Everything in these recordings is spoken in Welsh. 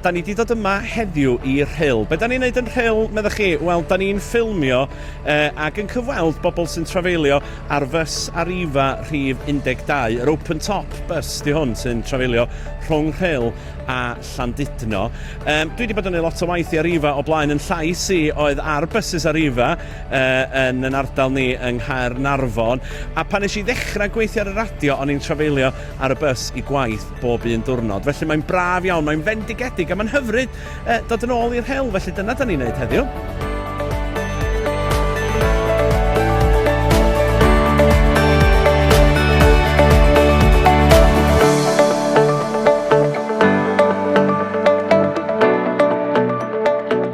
Da ni wedi dod yma heddiw i Rhyl. Be da ni'n neud yn Rhyl, meddwch chi? Wel, da ni'n ffilmio eh, ac yn cyfweld bobl sy'n trafeilio ar fys Arriva rhif 12, yr open top bus di hwn sy'n trafeilio rhwng Rhyl a Llandudno. Um, dwi wedi bod yn ei lot o waith i Arriva o blaen yn llais i oedd ar bysus Arriva yn yn ardal ni yng Nghaernarfon a pan nes i ddechrau gweithio ar y radio o'n i'n trafeilio ar y bws i gwaith bob un diwrnod felly mae'n braf iawn, mae'n fendigedig a mae'n hyfryd uh, dod yn ôl i'r hewl felly dyna da ni'n neud heddiw.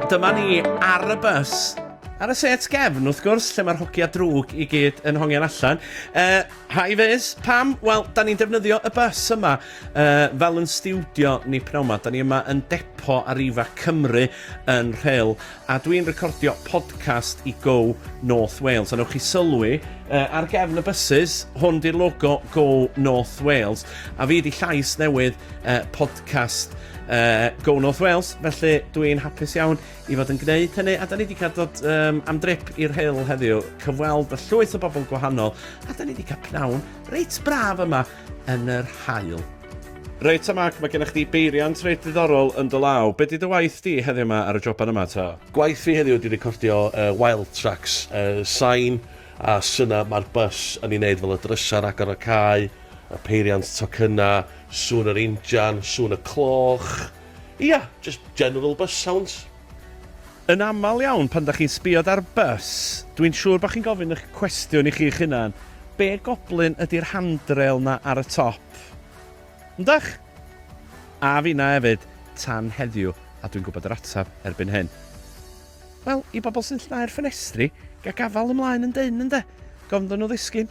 Dyma ni ar y bus Ar y set gefn, wrth gwrs, lle mae'r hogia drwg i gyd yn hongian allan. Uh, hi Fizz, pam? Wel, da ni'n defnyddio y bus yma uh, fel yn stiwdio ni pnawn yma. Da ni yma yn depo ar Ifa Cymru yn rheil, a dwi'n recordio podcast i Go North Wales. A newch chi sylwi, uh, ar gefn y buses, hwn di'r logo Go North Wales, a fi di llais newydd uh, podcast uh, Go North Wales, felly dwi'n hapus iawn i fod yn gwneud hynny, a da ni wedi cael dod um, am drip i'r heil heddiw, cyfweld y llwyth o bobl gwahanol, a da ni wedi cael pnawn reit braf yma yn yr hael. Reit, a Mark, mae gennych chdi beiriant reit ddiddorol yn dy law. Be di dy waith di heddiw yma ar y joban yma ta? Gwaith fi heddiw wedi recordio uh, wild tracks, uh, sain a syna mae'r bus yn ei wneud fel y drysau agor y cae, y peiriant tocynnau, sŵn yr injan, sŵn y cloch, Ia, jyst general bus sounds. Yn aml iawn pan 'da chi'n sbio dar bys, dwi'n siŵr bod chi'n gofyn y'ch cwestiwn i chi'ch hunan, be goblyn ydi'r handrail 'na ar y top? Yndach? A finna efyd, tan heddiw, a dwi'n gwybod yr ateb erbyn hyn. Wel, i bobl sy'n llnau'r ffenestri, ga gafal ymlaen yn dynn ynde? Gofn iddyn nhw ddisgyn.